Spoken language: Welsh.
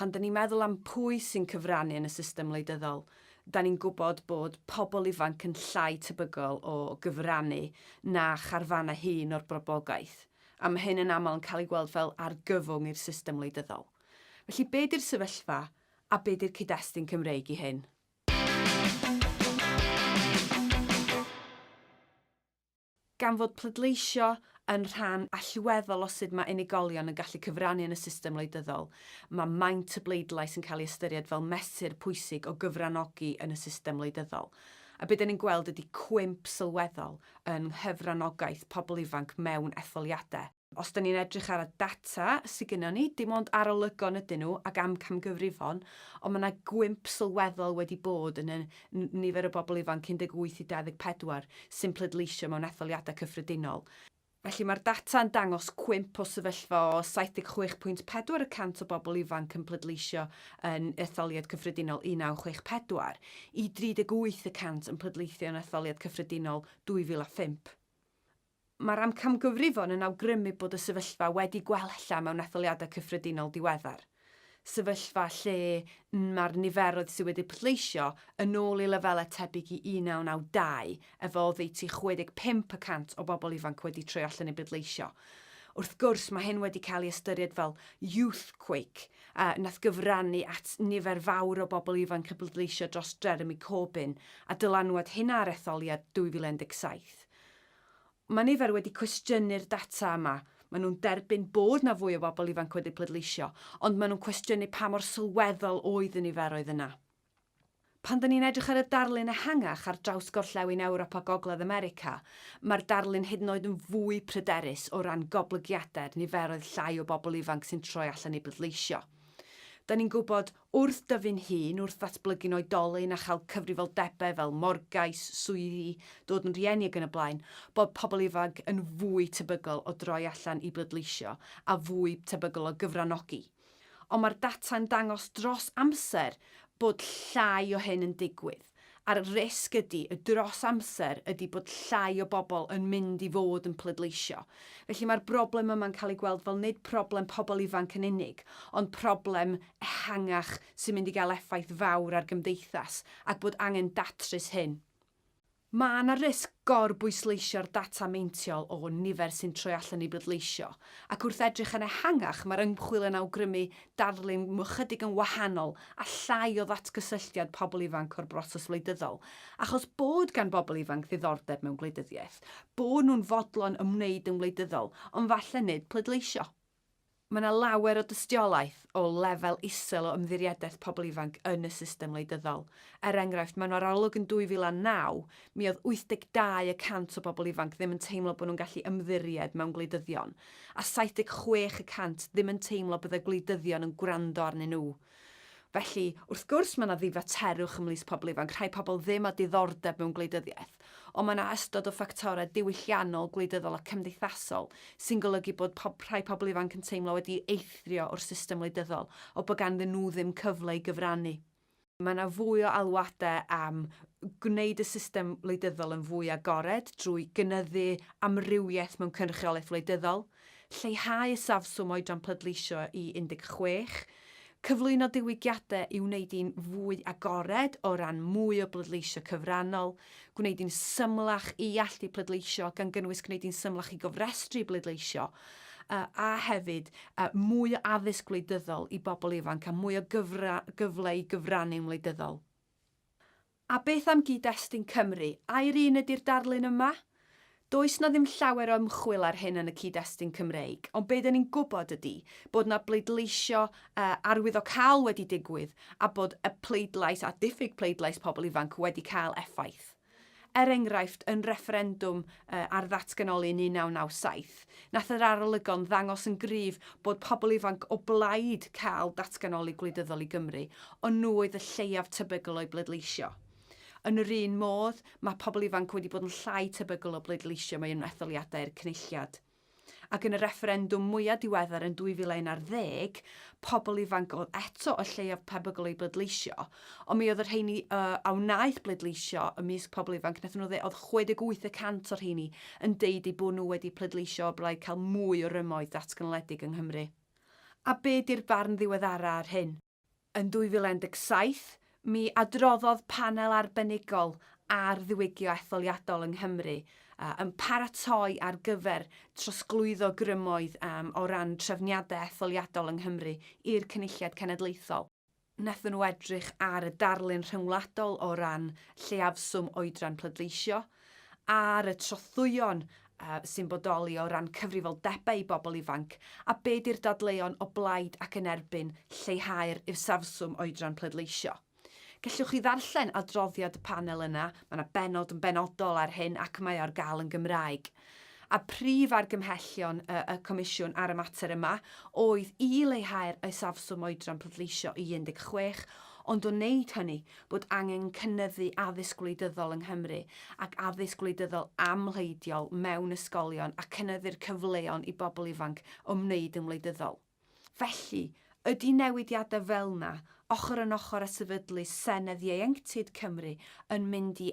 Pan dan ni'n meddwl am pwy sy'n cyfrannu yn y system wleidyddol, dan ni'n gwybod bod pobl ifanc yn llai tebygol o gyfrannu na charfannau hŷn o'r broblogaeth, a mae hyn yn aml yn cael ei weld fel argyfwng i'r system wleidyddol. Felly, be di'r sefyllfa, a be di'r cyd-destun Cymreig i hyn? Gan fod pleidleisio yn rhan allweddol o sut mae unigolion yn gallu cyfrannu yn y system wleidyddol, mae maint y bleidlais yn cael ei ystyried fel mesur pwysig o gyfranogi yn y system wleidyddol. A be dan ni'n gweld ydi cwymp sylweddol yng nghyfranogaeth pobl ifanc mewn etholiadau. Os 'da ni'n edrych ar y data sy gynnon ni, dim ond arolygon ydyn nhw ac amcamgyfrifon, ond ma' 'na gwymp sylweddol wedi bod yn y nifer o bobl ifanc 18 i 24 sy'n pleidleisio mewn etholiadau cyffredinol. Felly, ma'r data yn dangos cwymp o sefyllfa o 76.4 y cant o bobl ifanc yn pleidleisio yn etholiad cyffredinol 1964 i 38 y cant yn pleidleithio yn etholiad cyffredinol 2005. Mae'r amcamgyfrifon yn awgrymu bod y sefyllfa wedi gwella mewn etholiadau cyffredinol diweddar, sefyllfa lle mae'r niferoedd sydd wedi pleidleisio yn ôl i lefelau tebyg i 1992 efo oddeutu 65 y cant o bobl ifanc wedi troi allan i bleidleisio. Wrth gwrs, mae hyn wedi cael ei ystyried fel youthquake, a wnaeth gyfrannu at nifer fawr o bobl ifanc i bleidleisio dros Jeremy Corbyn a dylanwad hynna ar etholiad 2017. Mae nifer wedi cwestiynu'r data yma. Maen nhw'n derbyn bod 'na fwy o bobl ifanc wedi pleidleisio, ond maen nhw'n cwestiynu pa mor sylweddol oedd y niferoedd yna. Pan 'dan ni'n edrych ar y darlun ehangach ar draws gorllewin Ewrop a Gogledd America, mae'r darlun hyd yn oed yn fwy pryderus o ran goblygiadau'r niferoedd llai o bobl ifanc sy'n troi allan i bleidleisio. 'Dan ni'n gwybod Wrth dyfu'n hŷn, wrth ddatblygu'n oedolyn a chael cyfrifoldebau fel morgais, swyddi, dod yn rhieni ac yn y blaen, bod pobl ifanc yn fwy tebygol o droi allan i bleidleisio a fwy tebygol o gyfranogi. Ond mae'r data'n dangos dros amser bod llai o hyn yn digwydd. a'r risg ydi y dros amser ydi bod llai o bobl yn mynd i fod yn pleidleisio. Felly mae'r broblem yma'n cael ei gweld fel nid problem pobl ifanc yn unig, ond problem ehangach sy'n mynd i gael effaith fawr ar gymdeithas, ac bod angen datrys hyn. Mae 'na risg Gorbwysleisio'r data meintiol o nifer sy'n troi allan i bleidleisio, ac wrth edrych yn ehangach mae'r ymchwil yn awgrymu darlun ychydig yn wahanol a llai o ddatgysylltiad pobl ifanc o'r broses wleidyddol, achos bod gan bobl ifanc ddiddordeb mewn gwleidyddiaeth, bod nhw'n fodlon ymwneud yn wleidyddol, ond falle nid pleidleisio. Mae yna lawer o dystiolaeth o lefel isel o ymddiriedaeth pobl ifanc yn y system wleidyddol. Er enghraifft, mewn arolwg yn 2009, mi oedd 82 y cant o bobl ifanc ddim yn teimlo bod nhw'n gallu ymddiried mewn gwleidyddion, a 76 y cant ddim yn teimlo byddai gwleidyddion yn gwrando arnyn nhw. Felly, wrth gwrs, mae yna ddifaterwch ymhlith pobl ifanc, rhai pobl ddim â diddordeb mewn gwleidyddiaeth, ond mae yna ystod o ffactorau diwylliannol, gwleidyddol a cymdeithasol sy'n golygu bod pob, rhai pobl ifanc yn teimlo wedi eithrio o'r system wleidyddol, o bod ganddyn nhw ddim cyfle i gyfrannu. Mae yna fwy o alwadau am gwneud y system wleidyddol yn fwy agored drwy gynyddu amrywiaeth mewn cynrychiolaeth wleidyddol, lleihau isafswm oedran pleidleisio i 16, cyflwyno diwygiadau i wneud hi'n fwy agored o ran mwy o bleidleisio cyfrannol, gwneud hi'n symlach i allu pleidleisio, gan gynnwys gwneud hi'n symlach i gofrestru bleidleisio, a hefyd mwy o addysg wleidyddol i bobl ifanc a mwy o gyfle i gyfrannu'n wleidyddol. A beth am gyd-destun Cymru? Ai'r un ydi'r darlun yma? Does 'na ddim llawer o ymchwil ar hyn yn y cyd-destun Cymreig, ond be' 'dan ni'n gwybod ydi bod 'na bleidleisio arwyddocaol wedi digwydd a bod y pleidlais a diffyg pleidlais pobl ifanc wedi cael effaith. Er enghraifft, yn refferendwm ar ddatganoli yn 1997, Nath yr arolygon ddangos yn gryf bod pobl ifanc o blaid cael datganoli gwleidyddol i Gymru, ond nhw oedd y lleiaf tebygol o'u bleidleisio. Yn yr un modd, mae pobl ifanc wedi bod yn llai tebygol o bleidleisio mewn etholiadau i'r Cynulliad. Ac yn y refferendwm mwyaf diweddar yn 2011, pobl ifanc oedd eto y lleiaf tebygol o'u bleidleisio, Ond mi oedd y rheini uh, a wnaeth bleidleisio ymysg pobl ifanc, nath nhw dde, oedd 68 y cant o'r rheini yn deud ei bod nhw wedi pleidleisio o blaid cael mwy o rymoedd datganoledig yng Nghymru. A be di'r barn ddiweddara ar hyn? Yn 2017, mi adroddodd panel arbenigol ar ddiwygio etholiadol yng Nghymru uh, yn paratoi ar gyfer trosglwyddo grymoedd um, o ran trefniadau etholiadol yng Nghymru i'r Cynulliad Cenedlaethol. wnaethon nhw edrych ar y darlun rhyngwladol o ran lleiafswm oedran pleidleisio, ar y trothwyon sy'n bodoli o ran cyfrifoldebau i bobl ifanc, a be di'r dadleuon o blaid ac yn erbyn lleihau'r isafswm oedran pleidleisio. Gellwch chi ddarllen adroddiad y panel yna, mae yna bennod yn benodol ar hyn ac mae o ar gael yn Gymraeg. a prif argymhellion y Comisiwn ar y mater yma oedd i leihau'r isafswm oedran pleidleisio i 16, ond o wneud hynny, bod angen cynyddu addysg gwleidyddol yng Nghymru ac addysg gwleidyddol amhleidiol mewn ysgolion a cynyddu'r cyfleon i bobl ifanc ymwneud yn wleidyddol. Felly, ydy newidiadau fel yna, ochr yn ochr â sefydlu Senedd Ieuenctid Cymru, yn mynd i